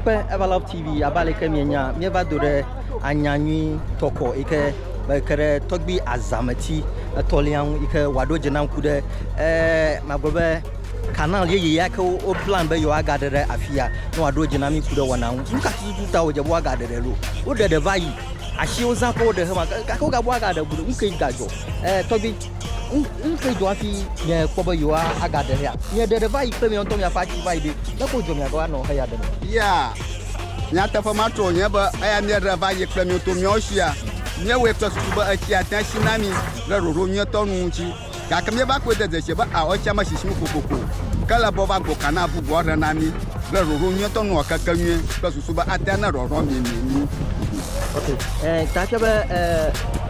akpe evalove tv abe ale ke mienya míeva do ɖe anya nyui tɔkɔ yi ke ke ɖe tɔgbi azameti etɔ̃lia ŋu yi ke wòaɖo dze nam ku ɖe ee magblɔ be Kanal yeye ya ke woplan be yewoagaɖe ɖe afia ne wòaɖo dzi na mí ku ɖe wɔna ŋu. Nu ka tututu ta wòdze be woagaɖe ɖe ɖo? Woɖe ɖe va yi. Asiwo zã kɔ woɖe hema gake wogabɔ woagaɖe go ɖe. Nu kae gadzɔ? Ɛɛ tɔgbui, nu nu kae dzɔ hafi miakpɔ be yewoa agaɖe heya? Mieɖe ɖe va yi kple miawo ŋutɔ miaƒe asi va yi ɖe. Nu kae wodzɔ miagava nɔ heya ɖem? Ya, nyateƒe matrɔ wònye be eya míeɖe va yi kple miwo to míawo sia, míewɔe kple susu be etsia tea si na mí ɖe ɖoɖo nyuietɔ nu ŋuti. Gake míeva kpɔe de dzesi be ao tsia mesi si ŋu kokoko o, ke ele be wova gbo ka na avuvuwo ahe na mí kple ɖoɖo nyuitɔ nu wɔkeke nyui kple susu be ate ŋu aɖɔɖɔ mí mí mí ŋu. Ta ke be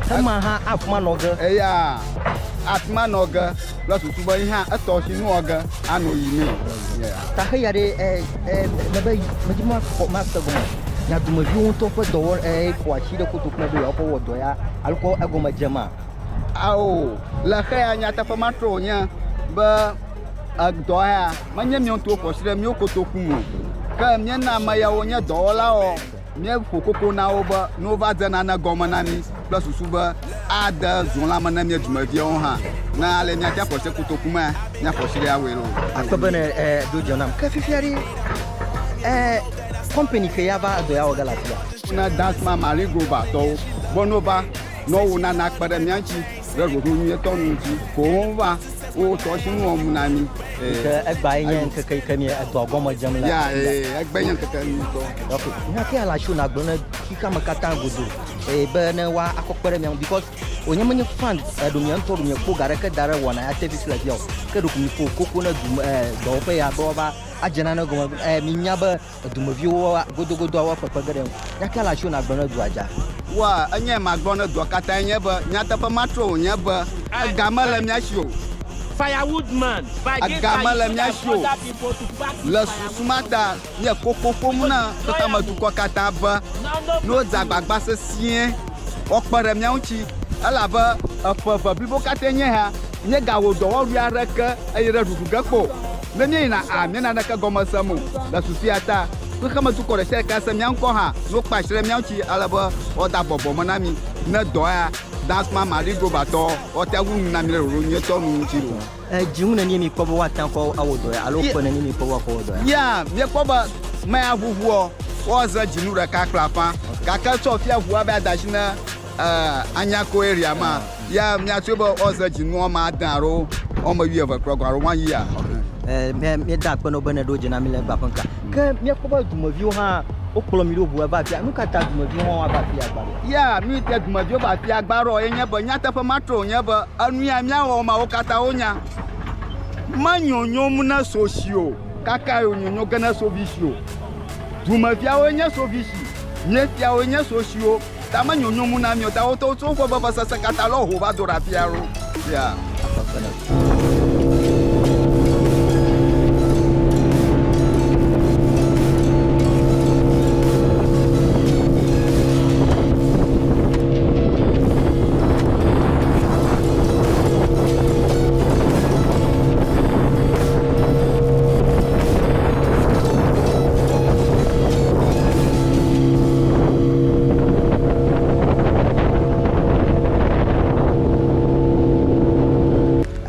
hema hã akma nɔ ge. Eya akma nɔ ge kple susu be yi hã etɔ si nu wɔ ge ano yi mí. Ta xe ya ɖe me be medi makpɔ makpe gɔme na dumeviwo ŋutɔ ƒe dɔwɔ ƒo asi ɖe koto kple be yewoakɔ wɔ dɔ ya alo kɔ egɔme dze ma. Ao, le xeya nyateƒe ma trɔ wònye be edɔ ya menye mía ŋutɔwo ƒo asi ɖe mía kotoku me o. Ke míena ame yawo nye dɔwɔlawo, míeƒo koko na wo be ne wova dze nane gɔme na mí kple susu be ade zɔ la me na mía dumeviawo hã, ne ale míate ŋu aƒo asi ɖe kotoku me míaƒo asi ɖe awɔe loo. Akpɔ bene edo dɔ nam. Ke fifia ɖe, eh, company ke ya va edɔ ya wɔ ge le afia. na Dance Man Marine Grover tɔwo be no va Nɔ wo nana akpe ɖe mía ŋuti ɖe ɖoɖo nyuietɔ nu dzi koŋ va wo tɔ si nuɔ ŋu na mí. Ke egbae nye ŋkeke yi ke mi edɔ gɔme dzem le. Ya ee, egbe nye ŋkeke nyuitɔ. Ok, nya ke ala tso na gblɔ ne xexea me katã godo ee be ne wa akɔ kpe ɖe mia ŋu because wònye menye fan eɖo mia ŋutɔ ɖo mia kpo ga ɖe ke da ɖe wɔna ya service le fia o. Ke ɖo mi ƒo koko ne du me ee dɔwɔƒe ya be wa va adze nane gɔme ee mi nya be Edumeviwo woa godogodoa woa kpekpe ge ɖe ŋu. Nya kae le asiwò ne àgblɔ ne dua dza? Wa enyae magblɔ ne dua katãe nye be, Nyateƒe matrɔe wònye be, ega mele mía si o. Ega mele mía si o. Le susu ma ta, míele koko ƒom na xexemedukɔ katã be ne wodze agbagba sesĩe, woakpe ɖe mía ŋuti, elabe eƒe eve blibo katãe nye ya. Míegawɔ dɔwɔwui aɖeke eye ɖe ɖuɖu ge kpɔ o. Ne míeyina a, míena naneke gɔme sem o. Le susua ta, xexemedukɔ ɖesiaɖe tea se mía ŋkɔ hã ne wokpa asi ɖe mía ŋuti ale be woada bɔbɔ me na mí. Ne dɔ ya Dankma Marie Grover tɔ woatea ŋu nu na mí ɖe ɖoɖo nyuitɔ nu ŋuti o. Edzi ŋu nenie míekpɔ be woate ŋu awɔ dɔ ya alo kpɔe nenie míekpɔ be woakɔ awɔ dɔ ya? Yea, míekpɔ be mea ʋuʋuɔ, woaze dzinu ɖeka kple afã, gake tsɔ fia ʋua be ada asi ne. Ɛɛ, anya koe ria ma ya miatsoe be woaze dzinu wɔme ade alo wɔme wuieve kplɔgɔ alo woayia. Ɛɛ, míeda akpe na wò be nèɖo dze na mí le egbea ƒe ŋkea. Ke míekpɔ be dumeviwo hã wokplɔ mí ɖo ŋu heva afia. Nu ka ta dumeviwo hã woava afia gbã ɖoa? Ya nu si te dumeviwo va afia gbã ɖoa ye nye be nyateƒe ma trɔ wònye be enu ya míawɔ mawo katã wonya. Me nyonyom ne so si o, kakae wònyonyo ge ne so vi si o. Dumeviawoe nye so vi si, míefiawoe nye so siwo. Ta me nyonyo mu na mio ta wote wo tso ƒe veve sese kata lɔ ho va do ra fia ro. Fia.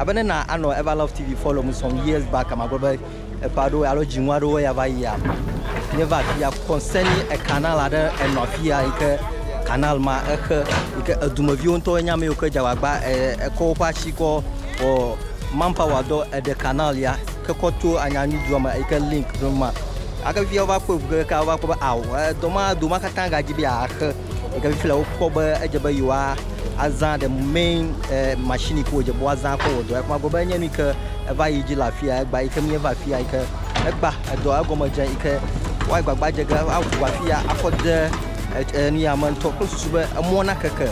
Abe ne na anɔ Ever Love TV follow mu some years back ma gblɔ be eƒe aɖewo alo dzinu aɖewo ya va yia. Nye va afi ya concerning a canal aɖe enɔ afi ya yi ke canal ma exe yi ke edumeviwo ŋutɔ nye ame yiwo ke dze agbagba e, ekɔ woƒe asi kɔ wɔ manpower dɔ eɖe canal ya ke kɔ to Anyanyudua me yi ke link ɖom ma. Gake fifia wova kpɔe ŋu kekeake wova kpɔ be ao dɔ ma do ma katã gadzi be yeaxe yi ke fifia wokpɔ be edze be yewoa azã the main eh, machine yi ke wodze be woazã akɔ wɔ dɔa. Kuma gblɔ be enye nu yi ke eva yi dzi le afia egba yi ke míeva afia yi ke egba edɔ egɔme dze yi ke woayi gbagba dze ge aʋu afia akɔ de et- eh, nu ya me ŋutɔ kple susu be emɔ nakeke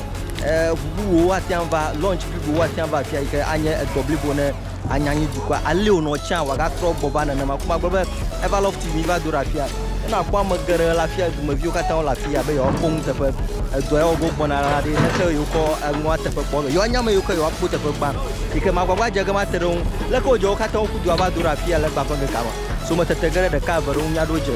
eh, ŋu bubuwo woate ŋu va launch blibowo woate ŋu va afia yi ke anye edɔ blibo ne anya anyi dukɔa, alee wònɔ tsã wòagatrɔ gbɔ va nenema. Ku magblɔ be eva lɔ fi miva do ɖe afia. Ne nàkpɔ ame geɖe le afia, dumeviwo katã wole afia be yewoakpɔ nuteƒe. Edɔa ya wòva gbɔna la ɖi ne ke yewokɔ enua teƒe kpɔ be yewoanya ame yiwo ke yewoakpɔ teƒe gbã. Yi ke magbagba dze ge mate ɖe wo ŋu. Leke wòdze wo katã woƒu dua va do ɖe afia le egbea ƒe ŋkekea me? Sometete ge ɖe ɖeka, eve ɖe wo ŋu mía ɖewo dze.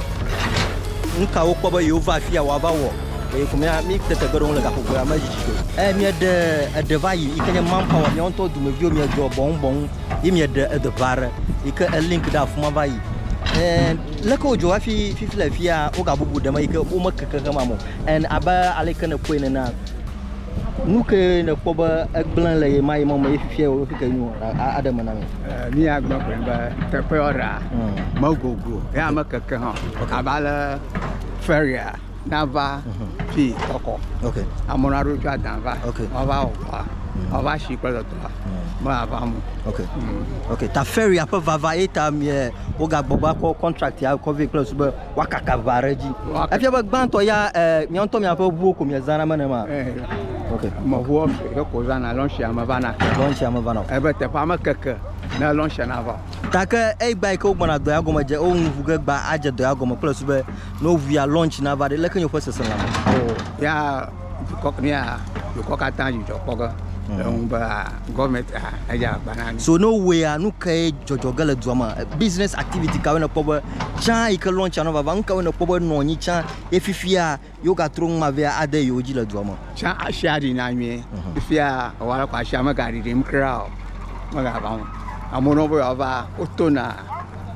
Nu ka wokpɔ be yewova afia wòava wɔ? Eye ko mía mí tete gbe ɖe wo le gaƒoƒoea me dzi dzi do. Eye mieɖe eɖe va yi yi ke nye manpower mia ŋutɔ dumeviwo miedzɔ bɔŋ bɔŋ yi mieɖe eɖe va ɖe yi ke elink ɖe afuma va yi. And leke wodzɔ hafi fifi le fia wogabubu ɖe me yi ke womekeke xema mo. And abe ale yi ke nèkpɔe nenea nu ke nèkpɔ be egblẽ le ɣemaɣi mɔ me ye fifia wòɖo fi ke nyo a- aɖe eme na mi. Eh, Míagblɔ koe be teƒe ɔɖea Mm. megogo eye mekeke hã o. abe ale feria Danva fi kɔkɔ. Ok. Amewo na ɖo tso adanva. Ok. Wọn va wɔ kɔa. Mm. Wọn va si kple dɔtɔa. Mm. Me ava mu. Ok. Mm. Ok. Ta feria ƒe vava ye ta mie wogagbɔ va kɔ contract ya kɔ vɛ kple su be wakaka va ɖe dzi. Efia be gbãtɔ ya eh, mia ŋutɔ mia ƒe ʋuwo ko mia zana me ne ma. Eh. Ok. Mɔ ʋuwo ye ko zana lɔnsi ame vana. Lɔnsi ame vana. Ebe teƒe ame keke ne lɔnsi na va. Take eyi gba yi ke wogbɔna dɔ ya gɔme dze wo ŋu vu ge gba adze dɔ ya gɔme kple su be Ne woŋuia lunch na va ɖe, leke nye woƒe sese lãme? O, ya dukɔ mía dukɔ katã dzudzɔ kpɔ ge le ŋu be ah, gɔvmɛnt ah, edze agba na mí. So ne wowɔea, nu kae dzɔdzɔ ge le dua me? Business activity kawoe nèkpɔ be tsã yi ke lunchia nɔ vava? Nu kawoe nèkpɔ be nɔ anyi tsã ye fifia yewogatrɔ nu ma vea ade yewo dzi le dua me? Tsã asia ɖina nyuie. Fifia ewɔ ale ko asia megaɖiɖim kura o. Megava o. Amewo na wo be yewoava, wotona.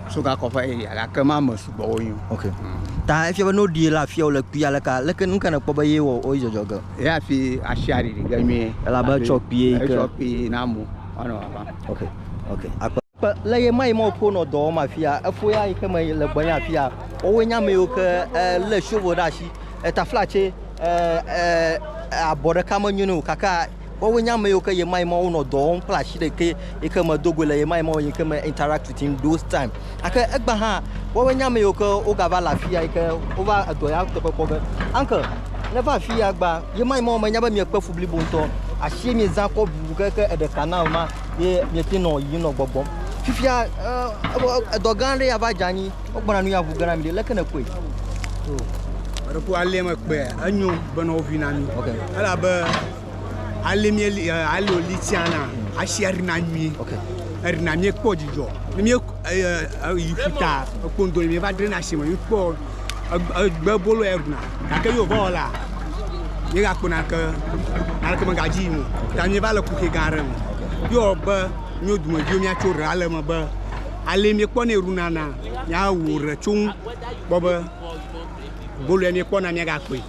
so ga kɔƒe eyi ya gake ma me sugbɔ wo nyo. Ok. Mm. Ta efia be no ɖi la afia wo le kpi ale ka leke nu ka ne kpɔ be ye wɔ o jɔjɔ ge. Ye afi ashi ari ri ge nyuie. Ela be tsɔ kpi ye ke. Tsɔ kpi na mo. Ano apa. Ok. Ok. Akpa. Kpe le ye ma ye ma o po no dɔ wo ma afia efo ya yi ke me le gbɔ nya afia. O we nya me yo ke eh, le shovo ɖe ashi. Eta flatse eh, eh, abɔ ɖeka me nyo ne o kaka Woawoe nye ame yiwo ke ɣemaɣi ma wonɔ dɔ wɔm kple asi ɖekɛ yi ke medo goe le ɣemaɣi ma yi ke me interact with him those time. Gake egbea hã, woawoe nye ame yiwo ke wogava le afi ya yi ke wova edɔ ya teƒe kpɔ be, Uncle, nèva afi ya egbea, ɣemaɣi ma menya be miekpe fu blibo ŋutɔ. Asie miezã kɔ ŋu ke ke eɖe canal ma ye miete nɔ yiyim nɔ gbɔgbɔm. Fifia, edɔ gã aɖe ya va dze anyi. Wogbɔna nu ya ŋu gana mi ɖe leke ne kpɔe. Eɖo ko alia me kpɔe enyo bena wovi na mi. Okay. Elabe ali mi eli ali oli tiana asi erina nyui. Okay. Erina mi kpɔ dzidzɔ. Ne mi yi futa ekpo ndo mi va dre na asi me mi kpɔ egbe bolo erina. Gake yo va wala. Ye ga kpona ke aleke me gaji mo. Ta mi va le kuke ga re. Yo be nyo dume jo mi atso re ale me be Alee míekpɔnɛ ɖuna na míawɔ ɖe tso ŋu kpɔ be bolo ya míekpɔna míagakpɔe.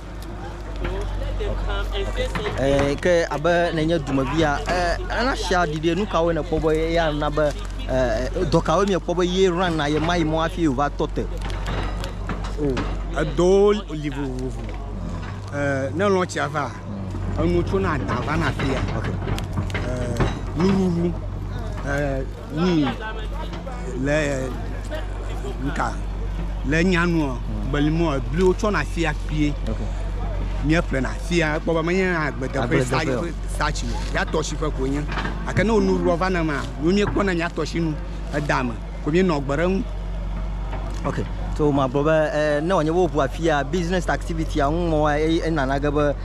Eh, ke abe nenye dumevia eh, ana sia ɖiɖi nu kawo nekpɔ be eya na be eh, dɔ kawo miekpɔ be ye ran na ye mayi mɔ hafi wòva tɔ te. O, edɔwo li vovovo. Eh, ne lɔ tsia va, enu tso na da va na fia. Eh, nuɖuɖu. Eh, wui le ŋka le nyanuɔ gbelimɔ ebli wotsɔ na fia kpie mía ƒle na fia kpɔ be menye agbedeƒe satsi o ya tɔsi ƒe ko nye ake ne wonu rua va na ma nu mía kpɔ na mía tɔsi nu eda me ko mía nɔ gbe ɖe ŋu ok so ma gblɔ be eh, ne wònye woʋua fia business activity a ŋu mɔ eye enana ge be